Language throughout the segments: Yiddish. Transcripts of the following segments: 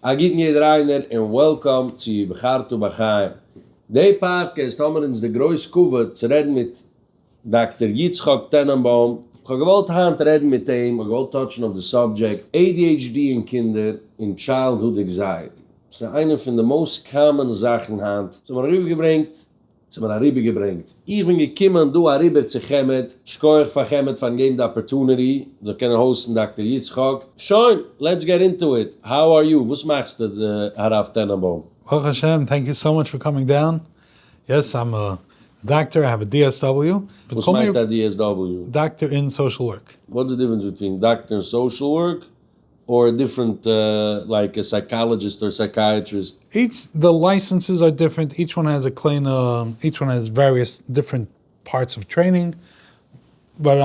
א גוטן יעדער איינער און וועלקאם צו בחרת בחיים די פאדקעסט, האמער אונז די גרויס כבוד צו רעדן מיט דאקטער יצחק טענענבוים. כ'האב געוואלט היינט רעדן מיט אים, כ'האב געוואלט טאטשן אויף די סאבדזשעקט adhd אין קינדער און טשיילדהוד עקזייעטי, ס'איז איינע פון די מאוסט קאמאן זאכן היינט, ס'האט מיר ארויפגעברענגט. צו מיר אריבער געברענגט. איך בין געקומען דא אריבער צו חמד, שקויעך פאר חמד פארן געבן די אפערטונעטי זאל קענען האוסטן דאקטער יצחק. שוין, לעטס געט אינטו איט, האו אר יו, וואס מאכסטו די הרב טענענבוים? ברוך השם, טענק יו סאו מאטש פאר קאמינג דאון, יעס איים א דאקטער, איי האב א DSW. וואס מיינט א DSW? דאקטער אין סאושעל ווארק. וואטס די דיפרענס ביטווין דאקטער און סאושעל ווארק? אור דיפרענט לייק א סייקאלעדזשיסט אור סייקייעטריסט. איטס די לייסענסעס אר דיפרענט איטש וואן העז א קליינע איטש וואן העז וועריעס דיפרענט פארטס אוו טרעינינג באט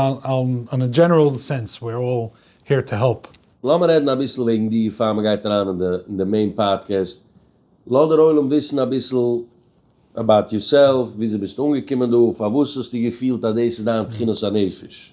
אן א דזשענעראל סענס וויר אלל העיר טו העלפ. לאמיר רעדן אביסל וועגן דיר פאר מען גייט אריין אין די מעין פאדקעסט, לאז דער עולם וויסן אביסל אבאוט יורסעלף, וויאזוי ביסטו אנגעקומען דא, פארוואס האסטו געפילט אז דאס איז דיין תכונת הנפש,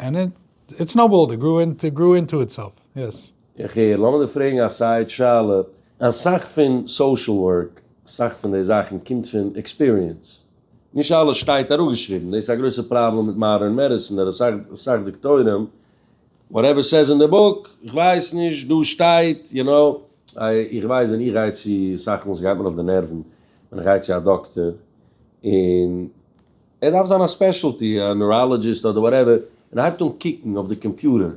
ענד איט סנאובאולד, איט גרו אינטו, גרו אינטו איטסעלף, יעס. איך הער, לאמיר דיר פרעגן א סייד שאלה, אסאך פון סאושעל ווארק, אסאך פון די זאכן קומט פון עקספיריענס, נישט אלעס שטייט אראפגעשריבן, דאס איז א גרויסע פראבלעם מיט מאדערן מעדיסין, ער האט אסאך דוקטורים, וואטעווער סעז אין די בוק, איך ווייס נישט, דא שטייט, יו נאו, איך ווייס ווען איך גיי צו, אסאך מאל סגייט מיר אויף די נערוון ווען איך גיי צו א דאקטער, און. ער דארף זיין א ספעשעלטי, א נוראלאגיסט אדער וואטעווער, און ער הייבט אן קוקן אויף די קאמפיוטער,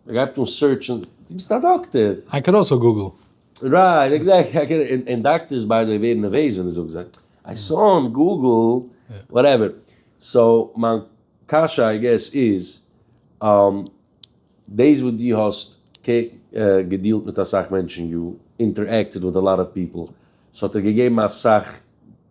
ער גייט אן סערטשן, דו ביסט א דאקטער! איי קען אלסא גוגל. רייט, עקזעקטלי, און דאקטערס ביי די וועי ווערן נערוועז ווען דו זאגסט זיי, איי סא אן גוגל, וואטעווער. סאו מיין קשיא איי געס איז, דאס וואס דו האסט געדילט מיט אסאך מענטשן, יו אינטערעקטעד וויט א לאט אוו פיפל, סאו האט ער געגעבן אסאך.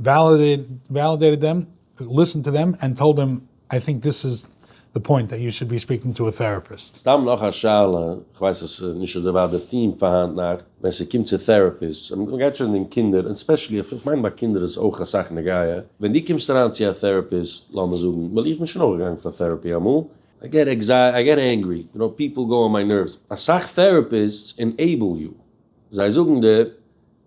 וועלידעיטעד דעם, ליסענד טו דעם ענד טאלד דעם איי טינק דיס איז די פוינט דעט יו שוד בי ספיקינג טו א טעראפיסט. סתם נאך א שאלה, איך ווייס אז ס'איז נישט אזוי ווייט די theme פאר היינט נאכט, ווען ס'קומט צו טעראפיס, און מ'גייט שוין אין קינדער, און ספעשעלי אויף, איך מיין ביי קינדער איז אויך אסאך נוגע, ווען דו קומסט אריין צו א טעראפיסט, לאמיר זאגן, ווייל איך בין שוין אויך געגאנגען פאר טעראפי אמאל, איי געט עקזייעטי, איי געט ענגרי, יו נאו, פיפל גאו אן מיי נערוס, אסאך טעראפיסטס ענעיבל יו, זיי זאגן דיר.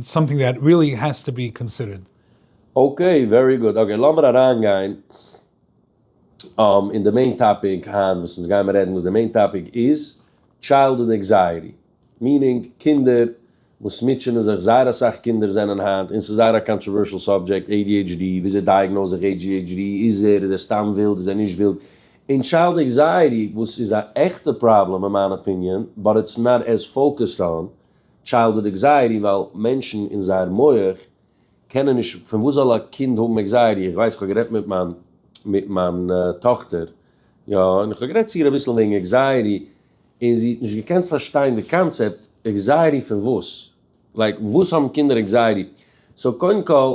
סאמטינג דעט ריעלי העז טו בי קאנסידערד. אקעי, ווערי גוד. אקעי, לאמיר אריינגיין אין די מעין טאפיק היינט וואס אונז גיימער רעדן וואס די מעין טאפיק איז טשיילדהוד ענקזייעטי, מיענינג קינדער וואס מוטשענען זיך, זייער אסאך קינדער זענען היינט, און ס'איז זייער א קאנטראווערשעל סאבדזשעקט, adhd, וויאזוי דייעגנאוז איך adhd, איז ער, איז ער סתם ווילד, איז ער נישט ווילד, און טשיילד ענקזייעטי וואס איז א עכטע פראבלעם אין מיין אפיניען, באט איטס נאט עז פאוקעסד אן. טשיילדהוד עקזייעטי ווייל מענטשן אין זייער מח קענען נישט, פון וואס זאל א קינד האבן עקזייעטי, איך ווייס איך האב גערעדט מיט מיין מיט מיין טאכטער יא און איך האב גערעדט צו איר אביסל וועגן עקזייעטי און זי האט נישט געקענט פארשטיין די קאנצעפט, עקזייעטי פון וואס? לייק וואס האבן קינדער עקזייעטי? סאו קודם כל.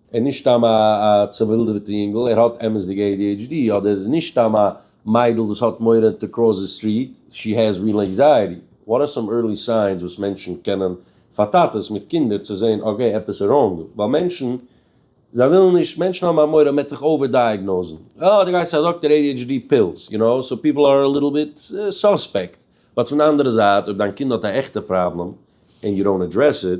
ער איז נישט סתם א צעווילדעוועטע יונגל, ער האט אמת'דיגע adhd, אדער ער איז נישט סתם א מיידל וואס האט מורא טו קראס די סטריט, שי העז ריעל ענקזייעטי. וואט אר סאם ערלי סיינס וואס מענטשן קענען פאר טאטעס מיט קינדער צו זעהן אקעי עפעס איז ראנג ווייל מענטשן זיי ווילן נישט מענטשן האבן א מורא מען וועט דיך אווער דייעגנאוזן אה די גייסט צו א דאקטער adhd פילס יו נאו סאו פיפל אר א ליטל ביט סוספעקט באט פון די אנדערע זייט אויב דיין קינד האט א עכטע פראבלעם ענד יו דאנט אדרעס איט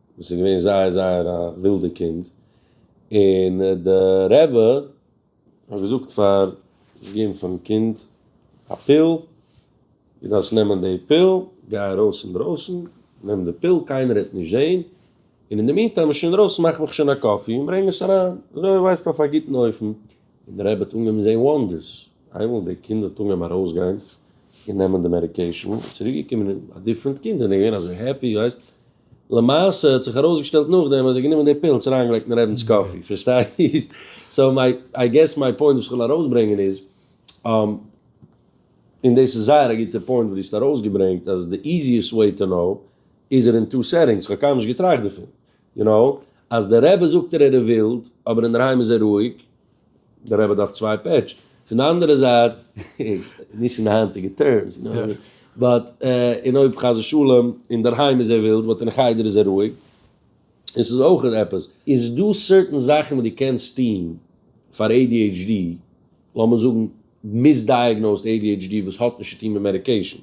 וואס איז געווען זייער זייער א ווילדע קינד, און די רבי האט געזאגט פאר אים פארן קינד א פיל, דו דארפסט נעמען די פיל, גיי ארויס אינדרויסן, נעם די פיל, קיינער וועט נישט זען, און אין די מינטיים ביסטו אינדרויסן מאך מיך שוין א קאפי און ברענג עס אריין, אזוי וועסטו אויף א גוטן אופן, און די רבי האט אנגעהויבן זען וואנדערס, איינמאל די קינד האט אנגעהויבן ארויסגיין און נעמען די מעדיקעישאן, צוריק געקומען א דיפרענט קינד, און ער איז געווען אזוי העפי, ווייסט. למעשה האט זיך ארויסגעשטעלט נאכדעם אז ער האט גענומען די פילס און אריינגעלייגט אין רעבינ'ס קאפי, פארשטייסט? סאו איי געס מיי פוינט וואס איך וויל ארויסברענגען איז, און דאס איז זייער א גוטע פוינט וואס דו האסט ארויסגעברענגט, אז די איזיעסט וועי טו נאו איז ער אין טו סעטינגס, כ'האב קיינמאל נישט געטראכט דערפון, יו נאו, אז דער רבי זאגט ער ער איז ווילד אבער אינדערהיים איז ער רואיג, דער רבי דארף צוויי פעטש, פון די אנדערע זייט, נישט אין די היינטיגע טערמס, באט און אויב חס ושלום אינדערהיים איז ער ווילד באט אין חדר איז ער רואיג, און ס'איז אויך עפעס, איז דא סערטען זאכן וואס דו קענסט טון פאר adhd, לאמיר זאגן מיסדייעגנאוזד adhd וואס האט נישט צוטון מיט מעדיקעישן.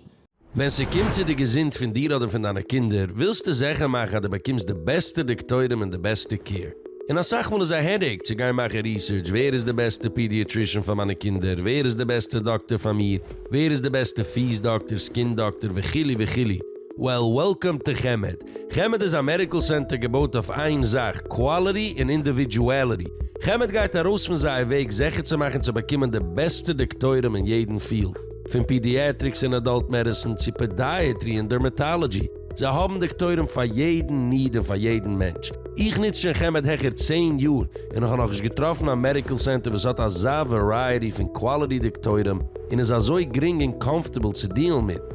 ווען ס'קומט צו די געזונט פון דיר אדער פון דיינע קינדער, ווילסטו זעכער מאכן אז דו באקומסט די בעסטע דאקטוירים און די בעסטע קעיר. און אסאך מאל איז א העדעיק צו גיין מאכן ריסערטש, ווער איז די בעסטע פידיעטרישען פאר מיינע קינדער, ווער איז די בעסטע דאקטער פאר מיר, ווער איז די בעסטע פיס דאקטער, סקין דאקטער, וכו' וכו'. וועל, וועלקאם טו חמד. חמד איז א מעדיקל סענטער געבויט אויף איין זאך, קוואליטי און אינדיווידואליטי. חמד גייט ארויס פון זייער וועג זיכער צו מאכן צו באקומען די בעסטע דאקטוירים אין יעדן פיעלד, פון פידיעטריקס און אדאלט מעדיסין צו פעדיעטרי און דערמעטאלעדזשי. זיי האבן דאקטוירים פאר יעדן ניד און פאר יעדן מענטש. איך נוץ שוין חמד העכער צען יאר און איך האב נאכנישט געטראפן א מעדיקל סענטער וואס האט אזא ווערייעטי פון קוואליטי דאקטוירים און איז אזוי גרינג און קאמפארטעבל צו דיעלן מיט.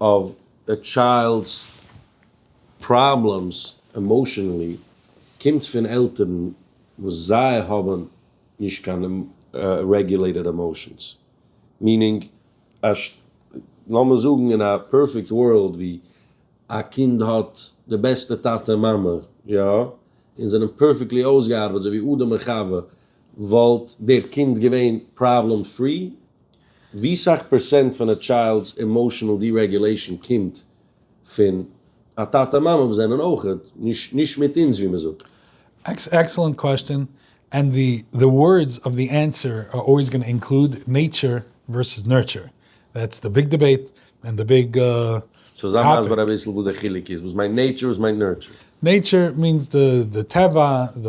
אויף א טשיילד'ס פראבלעמס עמאושענעלי קומט פון עלטערן וואס זיי האבן נישט קיין רעגולעיטעד עמאושענס, מיענינג אז לאמיר זאגן אין א פערפעקט ווארלד ווי א קינד האט די בעסטע טאטע און מאמע יא, און זיי זענען פערפעקטלי אויסגעארבעט אזוי ווי אדם און חווה, וואלט דער קינד געווען פראבלעם פרי, ווי סאך פערסענט פון א טשיילד'ס עמאושענעל דירעגולעישאן קומט פון א טאטע מאמע וואס זענען אויך נישט נישט מיט אונז ווי מ'זאגט? עקסעלענט קוועסטשען, ענד די די ווארדס אוו די ענסער אר אלוועיס גאנא אינקלוד נעטשער ווערסעס נורטשער, דעטס די ביג דיבעיט ענד די ביג טאפיק. סאו זיי מסביר אביסל וואס די חילוק איז, וואס מיינט נעטשער וואס מיינט נורטשער? נעטשער מיענס די די טבע, די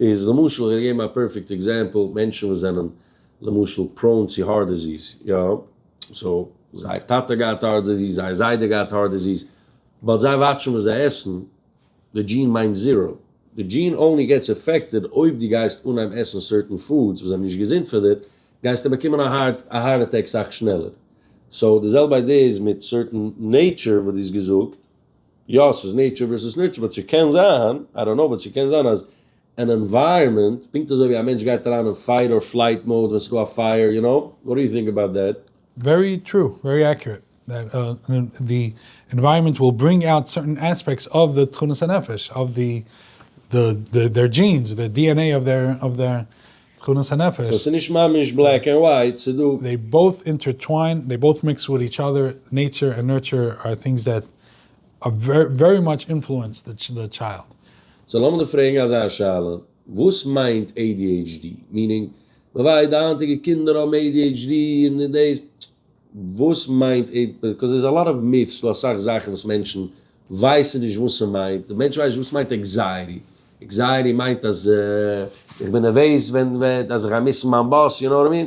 איז למשל איך וועל געבן א פערפעקט עקזעמפל, מענטשן וואס זענען למשל פראון צו הארט דיזיס, יא, סאו זייער טאטע האט געהאט הארט דיזיס, זייער זיידע האט געהאט הארט דיזיס, באט זיי וואטשן וואס זיי עסן, די דזשין מיינט זיראו, די דזשין אנלי געטס אפעקטעד אויב דו גייסט אנהייבן עסן סערטען פודס וואס זענען נישט געזונט פאר דיר, גייסטו באקומען א הארט אטעק סאך שנעלער, סאו די זעלבע איידיע איז מיט סערטען נעיטשור וואס דו האסט געזאגט. יא ס'איז נעטשור ווערסוס נורטשור באט ס'קען זיין, איי דאנט נאו, באט ס'קען זיין אז אן ענווייראמענט, פונקט אזוי ווי א מענטש גייט אריין אין פייט אר פלייט מאוד ווען ס'דא א פייער, יו נאו, וואט דו יו טינק אבאוט דעט? ווערי טרו, ווערי עקיורעט, דעט די ענווייראמענט וויל ברינג אוט סערטען עספעקטס אוו די תכונות הנפש, אוו די די דער דזשינס, די די ען עי אוו דער אוו דער תכונות הנפש. סאו ס'איז נישט ממש בלעק ענד ווייט, ס'איז דא. דעי באוט אינטערטוויין, דעי באוט מיקס וויט איטש אדער, נעטשור ענד נורטשור אר טינגס דעט ווערי מאטש אינפלוענסד די טשיילד. סאו לאמיר דיר פרעגן אזא שאלה, וואס מיינט adhd? מיענינג, מ'ווייסט די היינטיגע קינדער האבן adhd און דאס, וואס מיינט adhd? ביקאוז דער'ס א לאט אוו מיט'ס, דא אסאך זאכן וואס מענטשן ווייסן נישט וואס ס'מיינט, די מענטשן ווייסן נישט וואס מיינט עקזייעטי, עקזייעטי מיינט אז איך בין נערוועז ווען, אז איך גיי מיסן מיין באס, יו נאו וואט אי מין?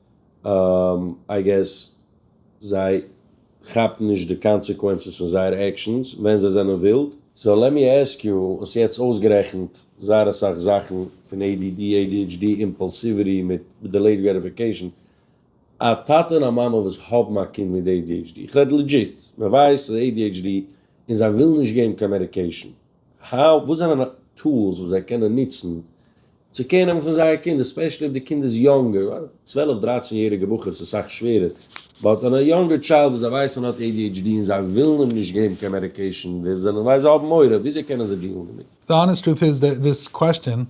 איי געס זיי כאפן נישט די קאנסעקווענסעס פון זייערע עקשאנס ווען זיי זענען ווילד. סאו לעט מי עסק יו, האסט יעצט אויסגערעכנט זייער אסאך זאכן פון עי די די, עי די עיטש די, אימפאלסיוויטי מיט דילעיד גרעטיפיקעישן. א טאטע און א מאמע וואס האבן א קינד מיט עי די עיטש די, איך רעד לעדזשיט, מען ווייסט אז עי די עיטש די און זיי ווילן נישט געבן קיין מעדיקעישן. האו, וואס זענען טולס וואס זיי קענען ניצן צו קער נעמען פון זייער קינד עספעשעלי אויב די קינד איז יונגער, ווייל צוועלף דרייצן יעריגע בחור איז סאך שווערער, באט אן א יונגער טשיילד וואס זיי ווייסן האט adhd און זיי ווילן אים נישט געבן קיין מעדיקעישן ווער זענען ווייל זיי האבן מורא, וויאזוי קענען זיי דיעלן דערמיט? די האנעסט טרוט איז דעט דיס קוועסטשען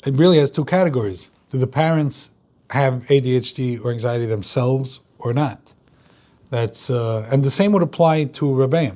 ריעלי העז טו קעטעגאריס, דו די פערענטס העוו adhd אר ענקזייעטי דעמסעלווס אר נאט, דעטס ענד די סעים וואלד אפליי טו רבי'ן,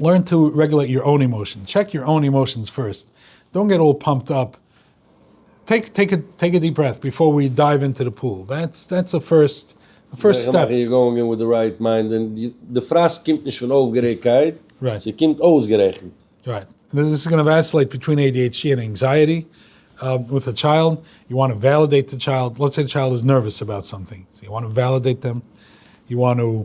לערן טו רעגולעיט יור אוין אימאשענס, טשעק יור אוין אימאשענס פירסט, דאנט געט אלל פאמפד אפ, טעיק טעיק א דיעפ ברעט ביפאר ווי דייוו אינטו די פול, דעטס דעטס א פירסט פירסט סטעפ. זיכער מאכן יור גאוינג אין וויט די רייט מיינד, און די פראסק קומט נישט פון אויפגערעגטקייט, ס'קומט אויסגערעכנט. רייט, דאס איז גאנא וועסלעיט ביטווין adhd און ענקזייעטי וויט א טשיילד, יו וואנט טו וועלידעיט די טשיילד, לעטס סעי די טשיילד איז נערוועס אבאוט סאמטינג, סאו יו וואנט טו וועלידעיט דעם, יו וואנט טו.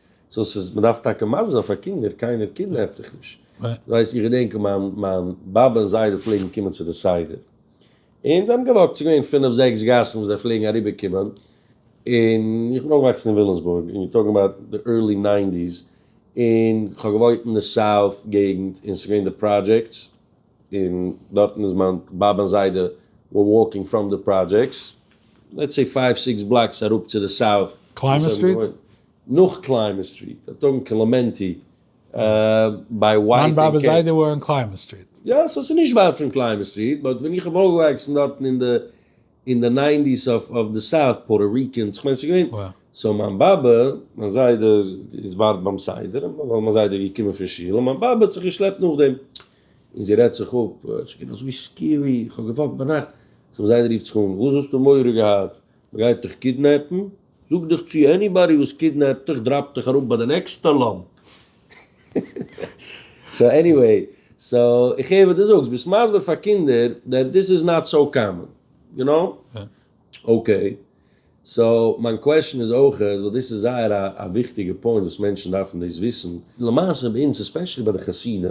סאו ס'איז מ'דארף טאקע מגן זיין פאר קינדער, קיינער קידנעפט דיך נישט, ווייסט איך געדענק מיין מיין באבע און זיידע פלעגן קומען צו די סדר, און זיי האבן געוואקט, ס'איז געווען פינף זעקס גאסן וואס זיי פלעגן אריבער קומען, און איך בין אויפגעוואקסן אין וויליאמסבורג, און טאלקינג אבאוט די ערלי ניינטיס, און כ'האב געוואוינט אין די סאוט געגנט, און ס'איז געווען די פראדזשעקטס, און דארטן איז מיין באבע און זיידע ווער וואלקינג פראם די פראדזשעקטס, לעטס סעי פייוו סיקס בלאקס אראפ צו די סאוט, קליימער סטריט? נאך קליימער סטריט א טאג אין קלעמענטי ביי ווייט. מיין באבע זיידע וואוינט אין קליימער סטריט. יא סאו ס'איז נישט ווייט פון קליימער סטריט באט ווען איך האב אויפגעוואקסן דארטן אין די אין די ניינטיס אויף די סאוט פארא ריקענס איך מיין ס'איז געווען סאו מיין באבע מיין זיידע איז ווארט ביים סדר ווייל מיין זיידע איז געקומען פון שול און מיין באבע האט זיך געשלעפט נאכדעם און זי רעדט זיך אפ ס'איז געווען אזוי סקערי איך האב געוואקט ביינאכט סאו מיין זיידע רופט זיך אן וואס האסטו מורא געהאט מ'גייט דיך קידנעפן? זאג דיך צו עניבאדי וואס קידנעפט דיך דראפט דיך אראפ ביי די נעקסטע לאמפ. סאו עניוועי, סאו איך הער וואס דו זאגסט, ביסט מסביר פאר קינדער דעט דיס איז נאט סאו קאמאן, יו נאו? אקעי, סאו מיין קוועשאן איז אויך, ווייל דאס איז זייער א וויכטיגע פוינט וואס מענטשן דארפן דאס וויסן. למעשה ביי אונז עספעשעלי ביי די חסידים,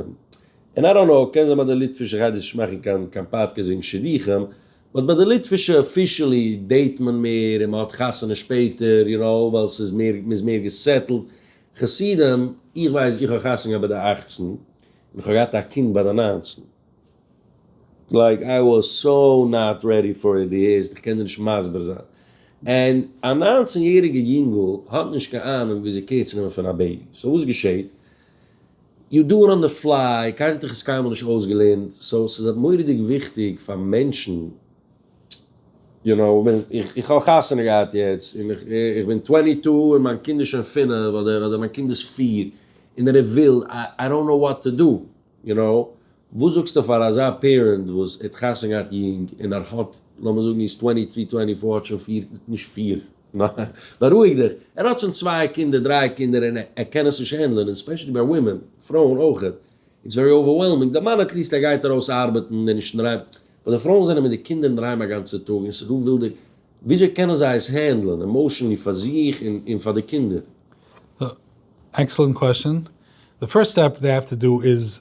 און איי דאנט נאו, קען זיין ביי די ליטווישע חסידים, דאס איז נישט מאכן קיין קיין פאדקעסט וועגן שידוכים, באט ביי די ליטווישע אפישעלי דעיט מען מער און מען האט חתונה שפעטער יו נאו ווייל ס'איז מער מ'איז מער געסעטלד חסידים איך ווייס איך האב חתונה געהאט ביי די אכצן און איך האב געהאט א קינד ביי די ניינצן לייק איי וואס סאו נאט רעדי פאר איט די ערשט איך קען דיר נישט מסביר זיין און א ניינצן יעריגע יונגל האט נישט קיין אהנונג וויאזוי קעיר צו נעמען פון א בעיבי סאו וואס געשעהט? יו דו אן די פליי, קיינער האט דיך עס קיינמאל נישט אויסגעלערנט, סאו ס'איז מורא'דיג וויכטיג פאר מענטשן, יו נאו, איך האב חתונה געהאט יעצט און איך בין טווענטי טו און מיין קינד איז שוין פינף אדער מיין קינד איז פיר און ער איז ווילד, איי דאנט נאו וואט טו דא, יו נאו. וואס זאגסטו פאר אזא פערענט וואס האט חתונה געהאט יונג און ער האט, לאמיר זאגן איז טווענטי טרי טווענטי פאר האט שוין פיר, נישט פיר, בארואיג דיך, ער האט שוין צוויי קינדער דריי קינדער און ער קען עס נישט הענדלען און ספעשעלי ביי ווימען, פרויען אויך, איטס ווערי אווערוועלמינג, די מאן עטליעסט ער גייט ארויס ארבעטן און נישט אינדערהיים, אבער די פרויען זענען מיט די קינדער אינדערהיים א גאנצע טאג און ס'איז דא ווילדע, וויאזוי קענען זיי עס הענדלען עמאושענלי פאר זיך און פאר די קינדער? עקסעלענט קוועסטשען, די פירסט סטעפ דעי העוו טו דא איז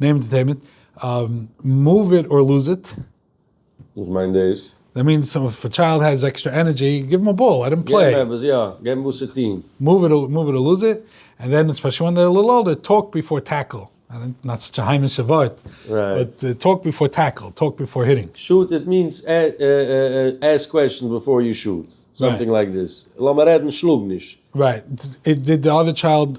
נעם ענטערטעינמענט, מאוו איט אר לוז איט. וואס מיינט דאס? דעט מיענס איף א טשיילד העז עקסטרע ענערדזשי, גיב אים א באל, לעט אים פלעי. גיב אים עפעס, יא, גיב אים וואס צו טון. מאוו איט אר לוז איט, און ווען עס פארשוואונד דער ליטל אולדער, טאלק ביפאר טעקל. נאט סאטש א היימישע ווארט, באט טאלק ביפאר טעקל, טאלק ביפאר היטינג. שוט איט מיענס עסק קוועשאנס ביפאר יו שוט, סאמטינג לייק דאס. לאמיר רעדן, שלאג נישט. רייט, דיד די אדער טשיילד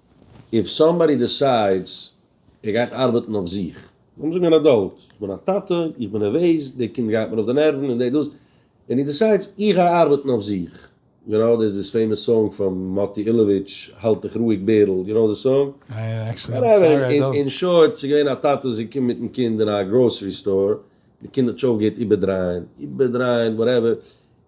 איף סאמבאדי דיסיידס ער גייט ארבעטן אויף זיך. לאמיר זאגן אן עדאלט, איך בין א טאטע, איך בין נערוועז, די קינד גייט מיר אויף די נערוון און די דאס, און איר דיסיידס איך גיי ארבעטן אויף זיך, יו נאו דעיס דיס פעימאס סאנג פון מאטי אילאוויטש האלט דיך רואיג בערל, יו נאו די סאנג? וואטעווער, אין שארט ס'איז געווען א טאטע וואס איז געקומען מיטן קינד אין א גראסערי סטאר, די קינד האט זיך אויפגעהערט איבערדרייען, איבערדרייען וואטעווער,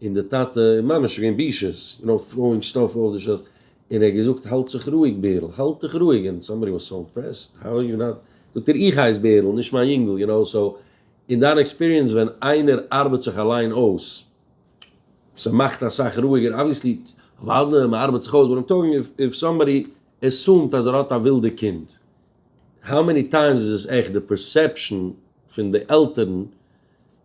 און די טאטע איז ממש געווען בישות, יו נאו טראואינג סטאף אויף די שאלפס, און ער האט געזאגט האלט זיך רואיג בערל, האלט דיך רואיג, און סאמבאדי וואס סאו אימפרעסד, האו אר יו נאט, זאגט ער איך הייס בערל נישט מיין יונגל, יו נאו, סאו אין דיין עקספיריענס ווען איינער ארבעט זיך אליין אויס ס'מאכט אסאך רואיגער, אבוויעסלי אוואדע מ'ארבעט זיך אויס, באט איים טאלקינג איף איף סאמבאדי עסומד אז ער האט א ווילדע קינד, האו מעני טיימס איז עס עכט די פערסעפשאן פון די עלטערן,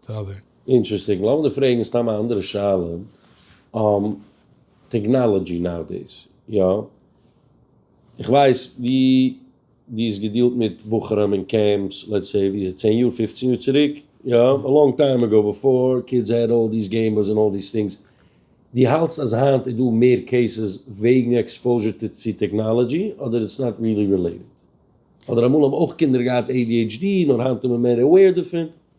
טעלער. אינטרעסטינג, לאמיר דיר פרעגן סתם א אנדערע שאלה, טעגנאלעדזשי נאו-דעיס, יא? איך ווייס ווי דו האסט געדילט מיט בחורים אין קעמפס, לעטס סעי ווי צען יאר פופצן יאר צוריק, יא? א לאנג טיים עגאו, בעפאר קידס העד אלל דיס געימבאס און אלל דיס טינגס, דו האלטסט אז היינט איז דא מער קעיסעס וועגן עקספאוזשער צו טעגנאלעדזשי אדער איטס נאט ריעלי רילעיטעד? אדער אמאל האבן אויך קינדער געהאט adhd נאר היינט איז מען מער עוועיר דערפון?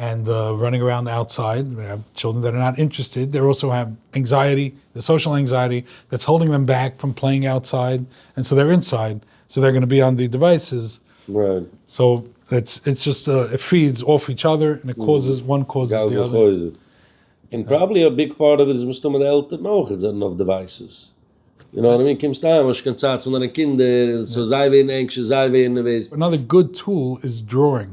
ענד ראנינג אראונד אוטסייד, ווען האב טשילדרען דעט אר נאט אינטערעסטעד, דער אלסא האב ענקזייעטי, די סאשעל ענקזייעטי דעטס האלדינג דעם בעק פון פלעינג אוטסייד, ענד סא דער אינסייד, סא דער גאנא בי אן די דיווייסעס, סא איטס זשאסט איט פיעדס אףף איטש אדער, און איט קאוזעס וואן קאוזעס די אדער. און פראבעבלי א ביג פארט אוו איט איז מסתמא די עלטערן אויך זענען אויף דיווייסעס, יו נאו וואט איימין, קומסט אהיים האסט נישט קיין צייט פאר דיינע קינדער, און סא זיי ווערן ענקשעס, זיי ווערן נערוועז. אנאדער גוד טול איז דראאינג.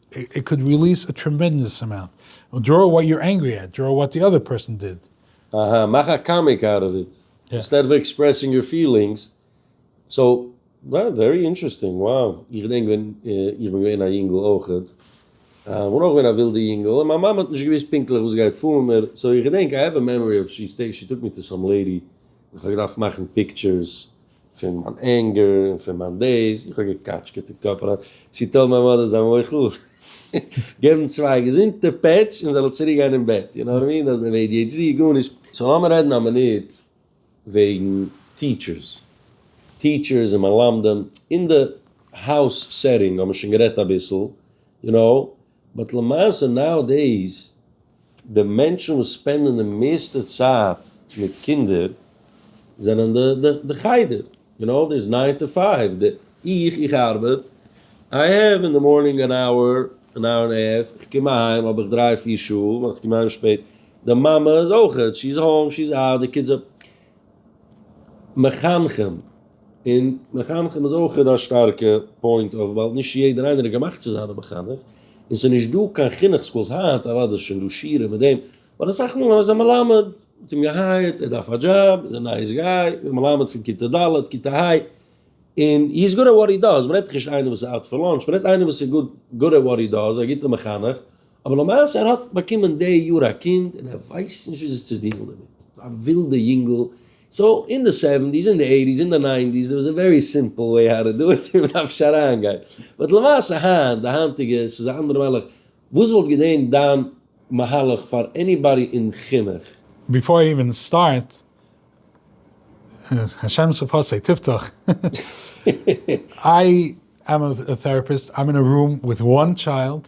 איט קאוד ריליס א טרעמענדעס אמאונט און דראו וואט יור ענגרי עט, דראו וואט די אדער פערסאן דיד. אהא, מאך א קאמיק אוט אוו איט, אינסטעד אוו עקספרעסינג יור פילינגס, סאו, וואו, ווערי אינטרעסטינג, וואו, איך געדענק ווען איך בין געווען א יונגל אויכעט, איך בין אויך געווען א ווילדע יונגל, און מיין מאמע האט נישט געוואוסט פונקטליך וואס גייט פאר מיט מיר, סאו איך געדענק, איי העוו א מעמארי אוו שי טאוק מי טו סאם לעידי, איך האב געדארפט מאכן פיקטשערס, פון מיין ענגער און פון מיין דעיס, איך האב געקאטשקעט אין קאפ אריין, צו טאר מיין מאדער זיין מוחל? געבן צוויי געזונטע פעטש און זי זאל צוריק גיין אין בעט, יו נאו וואט אי מיען, אדער עי די עיטש די, גארנישט. סאו לאמיר רעדן א מינוט וועגן טיטשערס, טיטשערס און מלמדים, אין די האוז סעטינג האבן מיר שוין גערעדט אביסל, יו נאו, באט למעשה נאו דעיס די מענטשן וואס ספענדען די מערסטע צייט מיט קינדער זענען די די חדר און אויך דאס ניין טו פייוו די איך איך ארבעט איי העוו אין די מארנינג אן אווער אן אווער און האלף איך קום אהיים האב איך דריי פיר שעה ווען איך קום אהיים שפעט די מאמע איז אויכעט שי איז האום שי איז אאוט די קידס. מחנכים, און מחנכים איז אויך א שטארקע פוינט אויף ווייל נישט יעדער איינער איז געמאכט צו זיין א מחנך, און ס'איז נישט דא קיין חינוך סקולס היינט, אוודאי איז שוין דא שיעורים מיט דעם, אבער אסאך מאל אז א מלמד האט אים געהייערט, ער דארף א דזשאב, איז א נייעס גיי, א מלמד פון כיתה ד', כיתה ה', און הי איז גוד עט וואט הי דאז, מ'רעדט דאך נישט איינער וואס איז אוט פאר לאנטש, מ'רעדט איינער וואס איז גוד עט וואט הי דאז, א גוטע מחנך, אבער למעשה ער האט באקומען די יאר א קינד און ער ווייסט נישט וויאזוי צו דיעלן דערמיט. א ווילדע יונגל. סאו אין די סעווענטיס, אין די עיטיס, אין די ניינטיס דער וואס א ווערי סימפל וועי האו טו דו איט און מען דארף נישט אריינגיין. באט למעשה היינט, די היינטיגע, ס'איז א אנדערע מהלך. וואס וואלט געדען דיין מהלך פאר עניבאדי אין חינוך? ביפאר אי איווען סטארט, השם שפתי תפתח, איי עם א טעראפיסט, איים אין א רום וויט וואן טשיילד,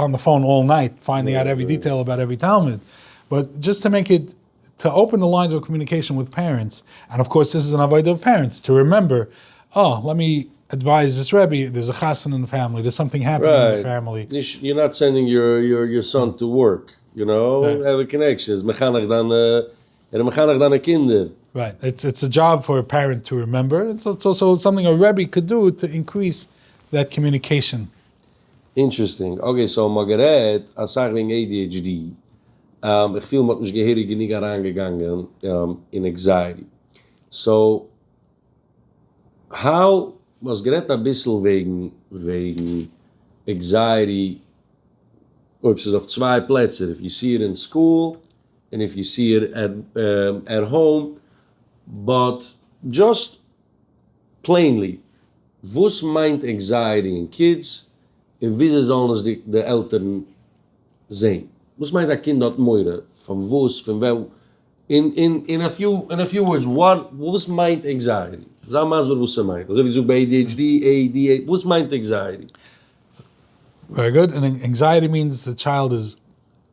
אן די פאון אלל נייט פיינדינג אוט עווערי דיטעיל אבאוט עווערי תלמיד, באט דזשאסט טו מעיק איט טו אפען די ליינס אוו קאמיוניקעישאן וויט פערענטס, ענד אויף קאורס דאס איז אן עבודה אויף פערענטס טו רימעמבער, אה לעט מי עדווייז דיס רעבי, דער איז א חתונה אין די פעמילי, דער איז סאמטינג העפענינג אין די פעמילי. נישט יור נאט סענדינג יור סאן טו ווארק, יו נאו, העוו א קאנעקשאן, ער איז מחנך דיינע, ער איז מחנך דיינע קינדער. רייט, איטס א דזשאב פאר א פערענט טו רימעמבער, און איטס אלסאו סאמטינג א רעבי קען דו טו אינקריס דעט קאמיוניקעישאן. אינטרעסטינג, אקעי סאו מ'האט גערעדט אסאך וועגן adhd, איך פיל מ'האט נישט געהעריג גענוג אריינגעגאנגען אין עקזייעטי, סאו האו, מ'האסט גערעדט אביסל וועגן וועגן עקזייעטי אויב ס'איז אויף צוויי פלעצער, איף יו סי איט אין סקול און איף יו סי איט עט האום, באט דזשאסט פלעינלי. וואס מיינט ענקזייעטי אין קידס און וויאזוי זאלן עס די עלטערן זעהן? וואס מיינט א קינד האט מורא פון וואס פון ווען? אין א פיו ווארדס וואס מיינט ענקזייעטי? זיי מסביר וואס ס'מיינט, אזוי ווי דו זאגסט ביי adhd, add, וואס מיינט ענקזייעטי? ווערי גוד, ענקזייעטי מיענס די טשיילד איז.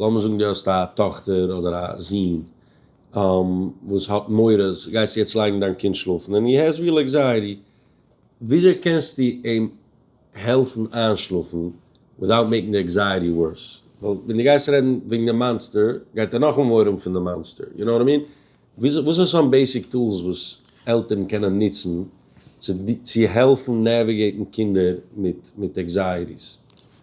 לאמיר זאגן דו האסט א טאכטער אדער א זון וואס האט מורא אז גייסטו יעצט לייגן דיין קינד שלאפן און איר הערסט ווי ער לייגט זייערי, וויאזוי קענסטו אים העלפן איינשלאפן וויטאוט מעיקינג די עקזייעטי ווארס, ווייל ווען דו גייסט רעדן וועגן די מאנסטער גייט ער נאכאמאל מורא האבן פון די מאנסטער, יו נאו וואט איי מין? וואס איז סאם בעיסיק טולס וואס עלטערן קענען נוצן צו צו העלפן נעוויגעיטן קינדער מיט מיט עקזייעטיס?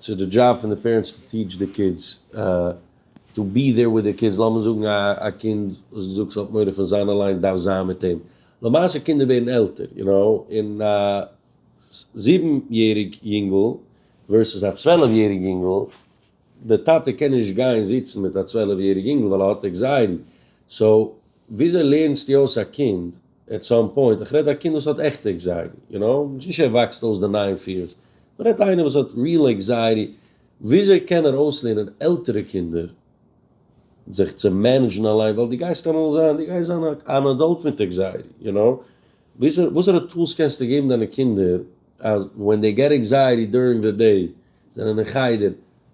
ס'איז די דזשאב פון די פערענטס צו טיעטש די קידס, טו בי דעיר וויט די קידס, לאמיר זאגן א קינד וואס געזאגט האט מורא פון זיין אליין דארף זיין מיט אים, למעשה קינדער ווערן עלטער יו נאו, און א זיבן יעריג יונגל ווערסעס א צוועלף יעריג יונגל, די טאטע קען נישט גיין זיצן מיט א צוועלף יעריג יונגל ווייל ער האט עקזייעטי, סאו וויאזוי לערנסטו אויס א קינד עט סאם פוינט, איך רעד א קינד וואס האט עכטע עקזייעטי, יו נאו, נישט ער וואקסט אויס די ניין פיערס, מען רעדט איינער וואס האט ריעל עקזייעטי, וויאזוי קען ער אויסלערנען עלטערע קינדער זיך צו מענעדזשן אליין, ווייל דו גייסט אמאל זיין, דו גייסט זיין אן עדאלט מיט עקזייעטי, יו נאו, וואסערע טולס קענסטו געבן דיינע קינדער אז ווען דעי געט עקזייעטי דוירינג די דעי, זענען אין חדר,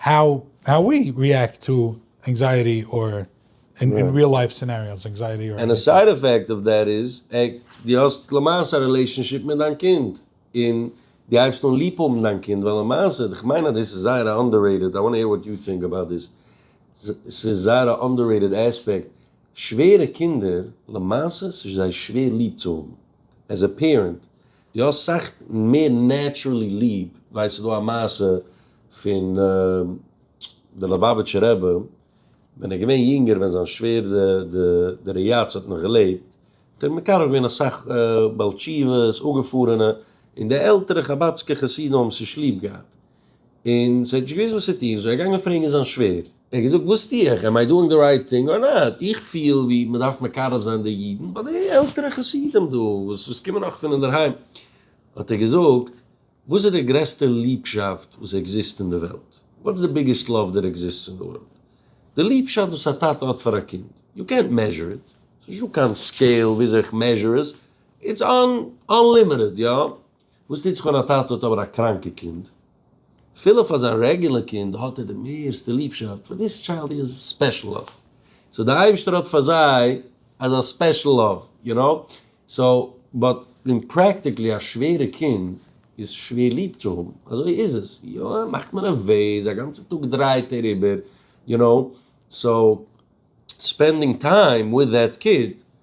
האו האו ווי ריעקט טו ענקזייעטי אר אין ריעל לייף סינעריאוס ענקזייעטי אר עניטינג. ענד א סייד עפעקט אוו דעט איז עק דו האסט למעשה א רילעישאנשיפ מיט דיין קינד און דו הייבסט אן ליב האבן דיין קינד ווייל למעשה איך מיין אז דאס איז זייער א אנדעררעיטעד איי וואנט העיר וואט יו טינק אבאוט דיס ס'איז זייער א אנדעררעיטעד עספעקט שווערע קינדער למעשה ס'איז זיי שווער ליב צו האבן עז א פערענט די האסט סאך מער נעטשרעלי ליב, ווייסט ס'דא א מעשה פון די ליובאוויטשע רבי ווען ער איז געווען יונגער ווען זיין שווער די ר' יצ האט נאך געלעבט האט ער מקרב געווען אסאך בעל תשובות אפגעפארענע און די עלטערע חבד'סקע חסידים האבן עס נישט ליב געהאט און ס'האט נישט געוואוסט וואס צו טון, סאו ער איז געגאנגען פרעגן זיין שווער, ער האט געזאגט וואס טו איך, עמ איי דואינג די רייט טינג אר נאט, איך פיל ווי מ'דארף מקרב זיין די אידן ביי די עלטערע חסידים דא וואס קומען נאך פון אינדערהיים, האט ער געזאגט וואס איז די גרעסטע ליבשאפט וואס עקזיסט אין די וועלט, וואטס די ביגעסט לאוו דער עקזיסטס אין די ווארלד, די ליבשאפט וואס א טאטע האט פאר א קינד, יו קענט מעזשור איט, ס'נישט דא קיין סקעיל וויאזוי איך מעזשור עס, איטס אנלימיטעד, יא. וואס טוט זיך ווען א טאטע האט אבער א קראנקע קינד? אפילו פאר זיין רעגולער קינד האט ער די מערסטע ליבשאפט, פאר דיס טשיילד הי האז ספעשל לאוו, סאו די אייבישטער האט פאר זיי אזא ספעשל לאוו, יו נאו, סאו באט אין פרעקטיקלי א שווערע קינד איז שווער ליב צו האבן, אזוי איז עס, יא ער מאכט מיר נערוועז, א גאנצע טאג דרייט ער איבער, יו נאו, סאו ספענדינג טיים וויט דעט קיד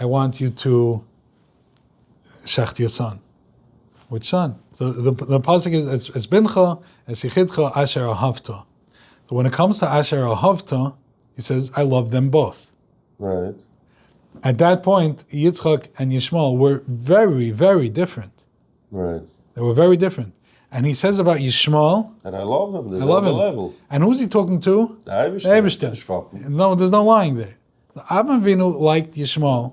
איי וואנט יו טו שחט יור סאן, וויטש סאן? די פסוק איז את בנך את יחידך אשר אהבת, סאו ווען איט קאמס טו אשר אהבת, הי סעז איי לאוו דעם בויט. רייט. עט דעט פוינט יצחק ענד ישמעאל ווער ווערי ווערי דיפרענט. רייט. זיי ווער ווערי דיפרענט. ענד הי סעז אבאוט ישמעאל. דעט איי לאוו הים. די זעלבע לעוועל. ענד הו איז הי טאלקינג טו? די אייבערשטער. די אייבערשטער. נישט פאפן. נאו דערס נאו לייאינג דער. ואברהם אבינו לייקט ישמעאל.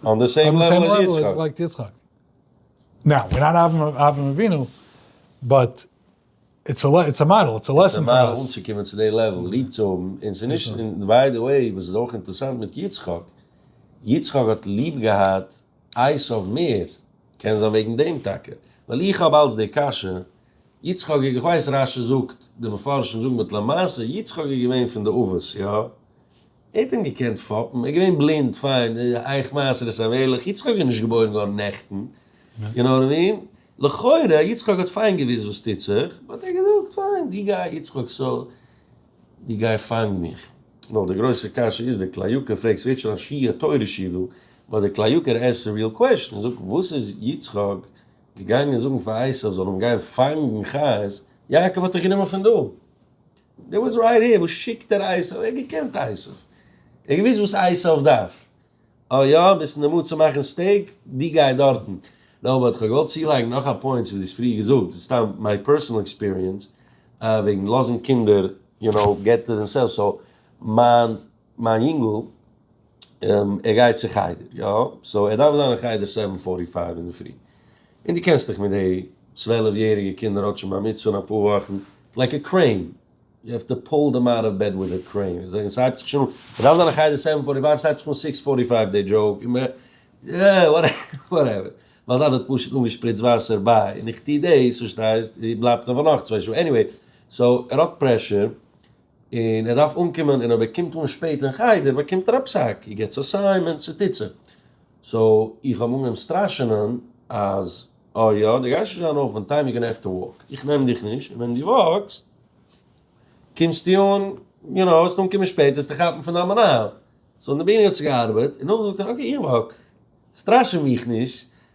אן די סעים לעוועל עז יצחק. לייקט יצחק. נאו, ווער נאט אברהם אבינו, באט איטס א איטס א מאדעל, איטס א לעסען פאר אס. איטס א מאדעל אנצוקומען צו די לעוועל, ליב צו האבן, און ס'איז נישט, און ביי די וועי, וואס איז אויך אינטערסאנט מיט יצחק, יצחק האט ליב געהאט עשו מער, קען זיין וועגן דעם טאקע, ווייל איך האב אלץ די קשיא, יצחק איך ווייס רשי זאגט די מפרשים זאגן באט למעשה יצחק איז געווען פון די אבות יא ער האט אים געקענט פאפן ער איז געווען בלינד פיין אייך מעשרת המלך יצחק איז נישט געבוירן גאר נעכטן יו נאו וואט אי מין לכאורה יצחק האט פיין געוויסט וואס טוט זיך באט ער האט געזאגט פיין די גיי יצחק סאו די גיי פאנג מיך. נאר די גרויסע קשיא איז די קליוקער פרעגסט ווערט שוין א שיעור תורה שידור באט די קליוקער עסקט ריעל קוועשאן און זאגט וואס איז יצחק געגאנגען זאגן פאר עשיו זאל אים גיין פאנגן חיות, יעקב האט דיך גענומען פון דא, דער וואס רייט העיר, וואס שיקט ער עשיו, ער האט געקענט עשיו, ער האט געוואוסט וואס עשיו דארף, אה יא, ביסט אין די מוד צו מאכן סטעיק, די גיי דארטן, נאר אבער כ'האב געוואלט צולייגן נאך א פוינט צו וואס דו האסט פריער געזאגט, דאס איז סתם מיי פערסענעל עקספיריענס, וועגן לאזן קינדער, יו נאו, געט טו דעמסעלווס, סאו, מיין מיין יונגל ער גייט צו חדר יא, סאו ער דארף זיין אין חדר סעווען פארטי פייוו אינדערפרי, און דו קענסט דיך מיט די צוועלף יעריגע קינדער האט שוין בר מצוה אין אפאר וואכן, לייק א קרעין, יו העוו טו פאול דעם אוט אוו בעד וויט א קרעין, און זאגן ס'הייבט זיך שוין אן, ער דארף זיין אין חדר סעווען פארטי פייוו, ס'הייבט זיך אן סיקס פארטי פייוו די דזשאוק, און מען אה וואטעווער, מיין טאטע האט פשוט אנגעשפריצט וואסער ביי, און איך טו דאס, פארשטייסט, און בלייבט אויף פאר נאך צוויי שעה, עניוועי, סאו ער האט פרעשור. און ער דארף אנקומען און אויב ער קומט אן שפעט אין חדר באקומט ער א פסק, הי געטס אסיימענט צו טיט זי. סאו איך האב אנגעהויבן סטראשענען אז אה יא דו גייסט נישט זיין אויף אן טיים יו גאנע העוו טו וואק, איך נעם דיך נישט און ווען דו וואקסט קומסטו אן יו נאו וועסט אנקומען שפעט וועסטו כאפן פון דיין מנהל. סאו אין די ביהמ ד האט עס געארבעט און נאכדעם האט ער געזאגט אקעי איך וואק סטראשע מיך נישט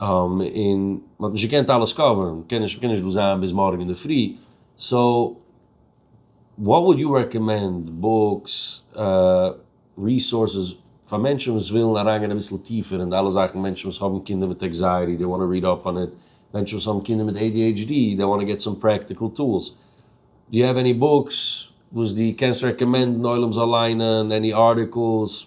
און מען האט נישט געקענט אלעס קאווערן, מען קען נישט מען קען נישט דא זיין ביז מארגן אינדערפרי, סאו וואט וואלד יו רעקאמענד, בוקס, ריסארסעס, פאר מענטשן וואס ווילן אריינגיין אביסל טיפער אין די אלע זאכן, מענטשן וואס האבן קינדער מיט עקזייעטי, דעי וואנט טו ריעד אפ אן איט, מענטשן וואס האבן קינדער מיט adhd, דעי וואנט טו געט סאם פרעקטיקל טולס, דו יו העוו עני בוקס וואס דו קענסט רעקאמענדן עולם זאל ליינען, עני ארטיקלס?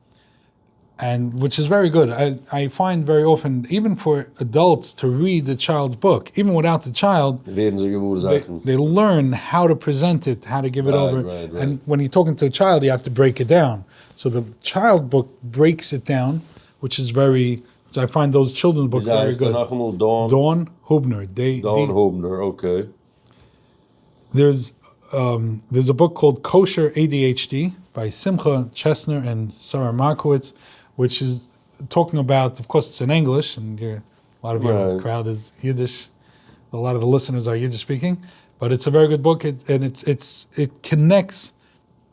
און וויטש איז ווערי גוד, איי פיינד ווערי אפען איווען פאר עדאלטס טו ריעד די טשיילד בוק, איווען וויטאוט די טשיילד, ווערן זיי געוואר זאכן. דעי לערן האו טו פרעזענט איט, האו טו גיוו איט אווער, און ווען יו טאלקינג טו א טשיילד יו האוו טו ברעיק איט דאון, סאו די טשיילד בוק ברעיקס איט דאון, וויטש איז ווערי, איי פיינד דאוז טשילדרענס בוקס ווערי גוד. וויאזוי הייסט ער נאכאמאל? דאון? דאון הובנער. דאון הובנער, אקעי. דער'ס דער'ס א בוק קאלד קאושער adhd ביי שמחה טשעסנער ענד שרה מארקאוויץ וויטש איז טאלקינג אבאוט, אוו קאורס איטס אין ענגליש ענד יור לאט אוו יור קראוד איז אידיש, א לאט אוו די ליסענערס אר אידיש ספיקינג, באט איטס א ווערי גוד בוק ענד איטס איטס איט קאנעקטס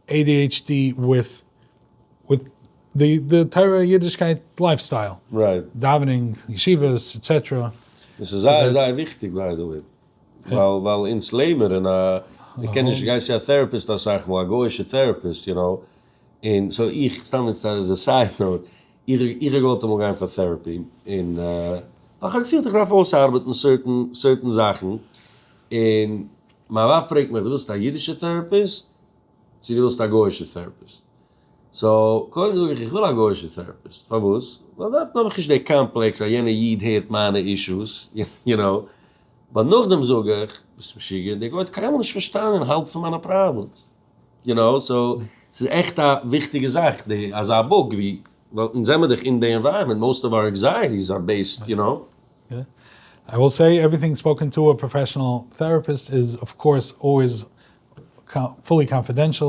adhd וויט וויט די די תורה אידישקייט לייף סטייל, דאווענינג, ישיבות, עטסעטערע. דאס איז זייער זייער וויכטיג ביי די וועי. ווייל אונז לעבן אין א, מען קען נישט גייסט צו א טעראפיסט אסאך מאל, א גוי'אישע טעראפיסט יו נאו, און סאו איך, סתם יעצט עז א סייד נאוט, איך האב געוואלט אמאל גיין פאר טעראפי, און ווייל איך האב געפילט איך דארף אויסארבעטן סערטען סערטען זאכן, און מיין ווייב פרעגט מיך די ווילסט א אידישע טעראפיסט צו די ווילסט א גוי'אישע טעראפיסט? סאו קודם זאג איך איך וויל א גוישע טעראפיסט, פארוואס? ווייל דארטן האב איך נישט די קאמפלעקס אז יענע איד הערט מיינע אישוס, יו נאו, באט נאכדעם זאג איך, ביסט משוגע? דער גוי האט קיינמאל נישט פארשטאנען האלב פון מיינע פראבלעמס, יו נאו, סאו ס'איז עכט א וויכטיגע זאך די אזא באג ווי, ווייל אונז זעמער דאך אין די ענווייראמענט, מאוסט אוו אווער ענקזייעטיס אר בעיסד, יו נאו. איי וויל סעי עווריטינג ספאוקען טו א פראפעשענעל טעראפיסט איז אוו קאורס אלוועיס פולי קאנפידענשעל,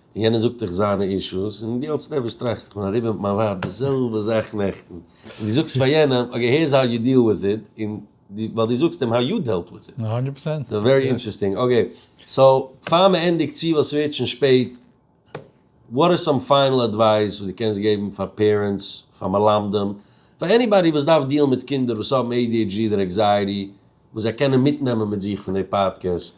און יענער זאגט דיך זיינע אישוס, און דו אלס נערוועז טראכסט, איך בין אריבער מיט מיין ווייב די זעלבע זאך נעכטן, און דו זאגסט פאר יענעם, אקעי היערס האו יו דיעל וויט איט, און דו, ווייל דו זאגסט אים האו יו דעלט וויט איט. הונדערט פראצענט. סאו ווערי אינטערעסטינג. אקעי, סאו פאר מען ענדיגט צו ווייל ס'ווערט שוין שפעט, וואט איז סאם פיינעל אדווייס וואס דו קענסט געבן פאר פערענטס, פאר מלמדים, פאר עניבאדי וואס דארף דיעלן מיט קינדער וואס האבן adhd אדער עקזייעטי, וואס זיי קענען מיטנעמען מיט זיך פון די פאדקעסט?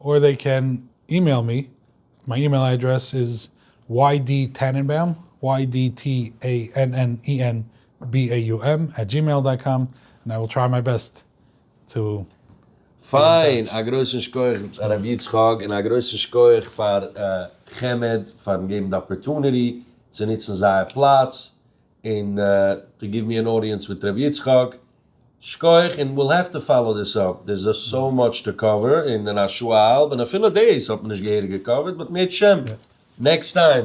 אור דיי קען אימעיל מי, מיין אימעיל אדרעס איז ydtannenbaum, וויי די טי עי ען ען אי ען בי איי יו עם, עט דזשימעיל דאט קאם, און איי וויל טריי מיי בעסט טו בי אין טאטש. פיין, א גרויסן שכח הרב יצחק, און א גרויסן שכח פאר חמד פארן געבן די אפערטוניטי צו נוצן זייער פלאץ, און טו גיוו מי ען אודיענס מיט ר' יצחק, שכוח, און וויל העוו טו פאלאו דיס אפ, דער איז סאו מאטש טו קאווער, און אין א שעה א האלב, און אפילו דאס האט מען נישט געהעריג געקאווערט, באט מער טשעם, נעקסט טיים.